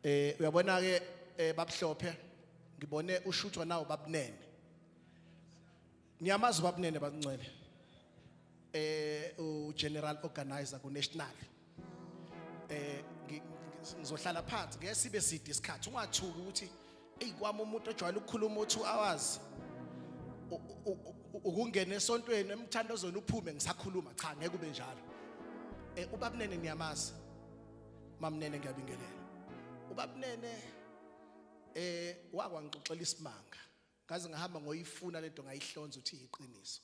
eh uyabona ke eh, babuhlophe ngibone ushuthwa nawo babunene ngiyamazi babunene bancwele eh u general organizer ku national eh ngizohlala phansi ngeke sibe side isikhathi ungathuki ukuthi eyi kwami umuntu ojwayele ukukhuluma u2 hours ukungena esontweni emthandazweni uphume ngisakhuluma cha ngeke ube njalo eh ubabunene niyamazi mamnene ngiyabingelela ubabnene eh wakwangixoxela isimanga ngaze ngahamba ngoyifuna lento ngayihlonza uthi iqiniso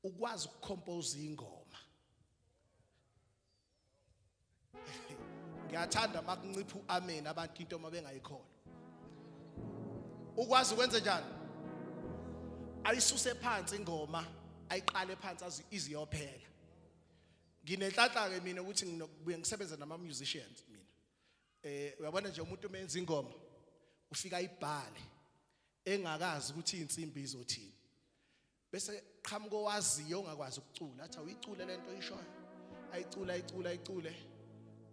ukwazi ukucompose ingoma ngiyathanda makuncipha uamen abantu into uma bengayikholwa ukwazi ukwenze njani ayisuse phansi ingoma ayiqale phansi iziyophela nginenhlanhla ke mina ukuthi nginokubuye ngisebenze nama musicians mina eh uyabona nje umuntu umenza ingoma ufika ibhale engakazi ukuthi insimbi izothini bese qhamuka owaziyo ongakwazi ukucula athi awuyicule lento oyishoyo ayicula ayicula ayicule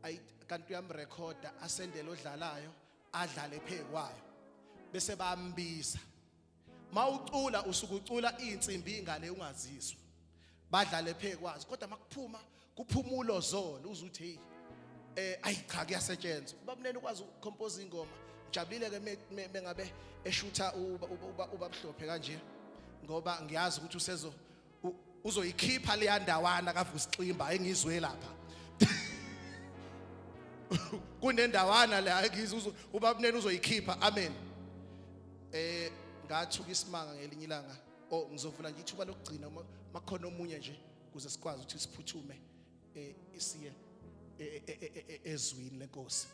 ayi kanti uyamrekhoda asendele odlalayo adlale phekwayo bese bambiza mawucula usukucula izinsimbi ingane ungazizwa badlale phekwazi kodwa makuphuma kuphuma ulozolo uzuthi hey eh ayi cha kuyasetshenzwa babunene ukwazi ucompose ingoma ngijabulile ke mengabe eshutha uba uba uba buhlophe kanje ngoba ngiyazi ukuthi usezo uzoyikhipha leya ndawana kaVusiximba engizwe lapha kunendawana la ngizwe ubabunene uzoyikhipha amen eh ngathuka isimanga ngelinye ilanga oh ngizovula nje ithuba lokugcina uma makhona omunye nje kuze sikwazi ukuthi siphuthume eh isiye eh, eh, eh, ezwini lenkosi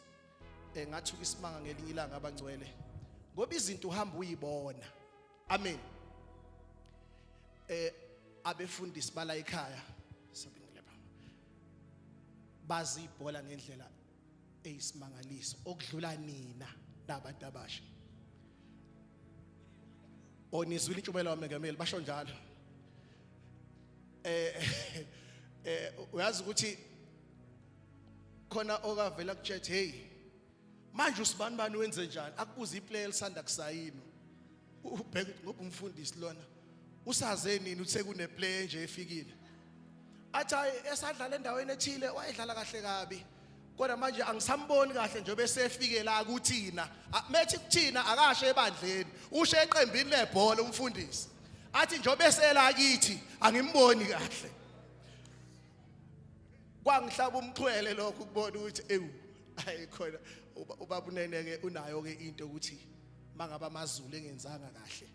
engathuka isimanga ngelinye ilanga abangcwele ngoba izinto uhamba uyibona Amen. Eh abefundisi bala ekhaya sabingeleba. Bazi ibhola ngendlela eyisimangaliso okudlula nina nabantu abasha. Onizwile intshumayelo wamengameli basho njalo. Eh eh uyazi ukuthi khona okavela kutshethe hey manje usibani bani wenze njani akubuza iplayer elisanda kusayinwa ubheka ngoba umfundisi lona usaze nini uthe kuneplayer nje efikile athi hayi esadlala endaweni ethile wayedlala kahle kabi kodwa manje angisamboni kahle njengoba esefike la kuthina methi kuthina akashe ebandleni ushe eqembini lebhola umfundisi athi njengoba esela kithi angimboni kahle kwangihlaba umxhwele lokho ukubona ukuthi ewu hayi khona ubaba unene ke unayo ke into ukuthi mangaba amazulu engenzanga kahle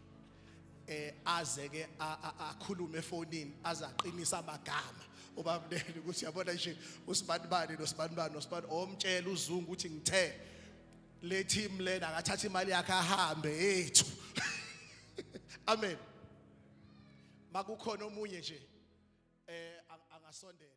eh aze ke akhulume efonini aze aqinisa amagama ubaba unene ukuthi yabona nje usibanibani nosibanibani nosibani omtshela oh, uzungu ukuthi ngithe le team lena akathatha imali yakhe ahambe yethu amen makukhona omunye nje eh angasondela